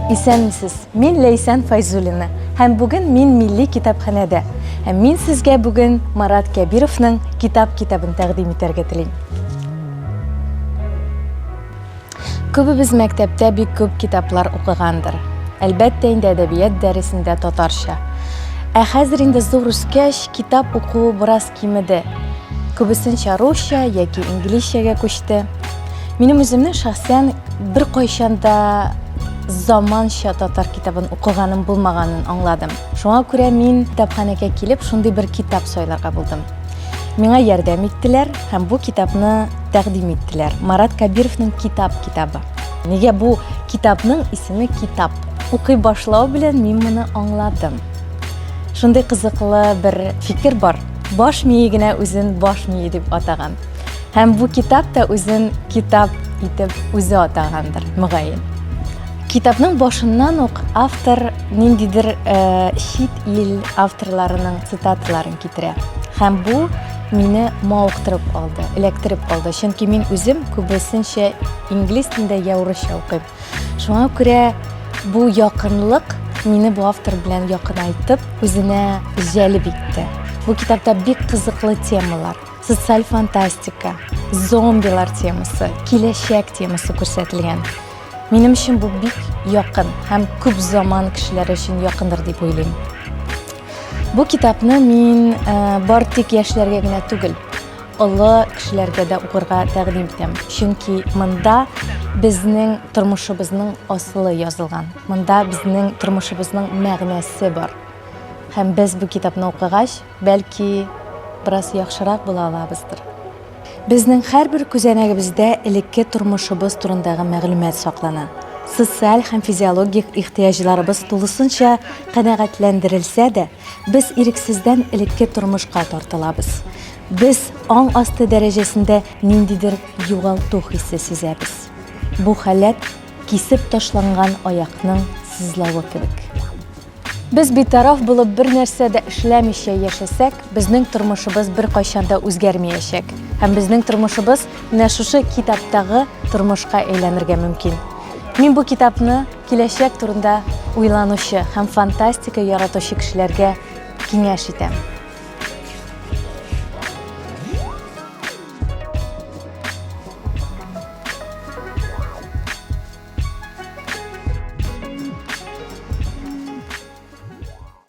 Исәнмесез, мин Ләйсән Файзулина һәм бүген мин милли китапханәдә. Һәм мин сезгә бүген Марат Кәбировның китап китабын тәкъдим итәргә телим. Күбебез мәктәптә бик күп китаплар укыгандыр. Әлбәттә инде әдәбият дәресендә татарча. Ә хәзер инде зур үскәч, китап укуы бераз кимеде. Күбесенчә русча яки инглизчәгә күчте. Минем үземнең шәхсән беркайчан да заманча татар китабын укыганым булмаганын аңладым. Шуңа күрә мин китапханәгә килеп, шундый бер китап сайларга булдым. Миңа ярдәм иттеләр һәм бу китапны тәкъдим иттеләр. Марат Кабировның Китап китабы. Нигә бу китапның исеме Китап? Укый башлау белән мин моны аңладым. Шундый кызыклы бер фикер бар. Баш мие генә үзен баш мие дип атаган. Һәм бу китап та үзен китап итеп үзе атагандыр, мөгаен. Китапның башыннан ук автор ниндидер э, чит ил авторларының цитаталарын китерә. Һәм бу мине мавыктырып алды, эләктереп алды. Чөнки мин үзем күбесенчә инглиз телендә я урысча укыйм. Шуңа күрә бу якынлык мине бу автор белән якынайтып, үзенә җәлеп итте. Бу китапта бик кызыклы темалар, социаль фантастика, зомбилар темасы, киләчәк темасы күрсәтелгән. Минем өчен бу бик якын һәм күп заман кешеләре өчен якындыр дип уйлыйм. Бу китапны мин э, бар тик яшьләргә генә түгел, Олы кешеләргә дә укырга тәкъдим итәм, чөнки монда безнең тормышыбызның асылы язылган, монда безнең тормышыбызның мәгънәсе бар. Һәм без бу китапны укыгач, бәлки, бераз яхшырак була алабыздыр. Безнең һәрбер күзәнәгебездә элекке тормышыбыз турындагы мәгълүмат саклана. Социаль һәм физиологик ихтыяҗларыбыз тулысынча канәгатьләндерелсә дә, Без ирексездән элекке тормышка тартылабыз. Без аң асты дәрәҗәсендә ниндидер югалту хисе сизәбез. Бу халәт кисеп ташланган аякның сызлавы кебек. Без битараф булып бер нәрсә дә эшләмичә яшәсәк, безнең тормышыбыз бер кайчан да үзгәрмәячәк. Һәм безнең тормышыбыз менә шушы китаптагы тормышка әйләнергә мөмкин. Мин бу китапны Киләчәк турында уйланучы һәм фантастика яратучы кешеләргә киңәш итәм.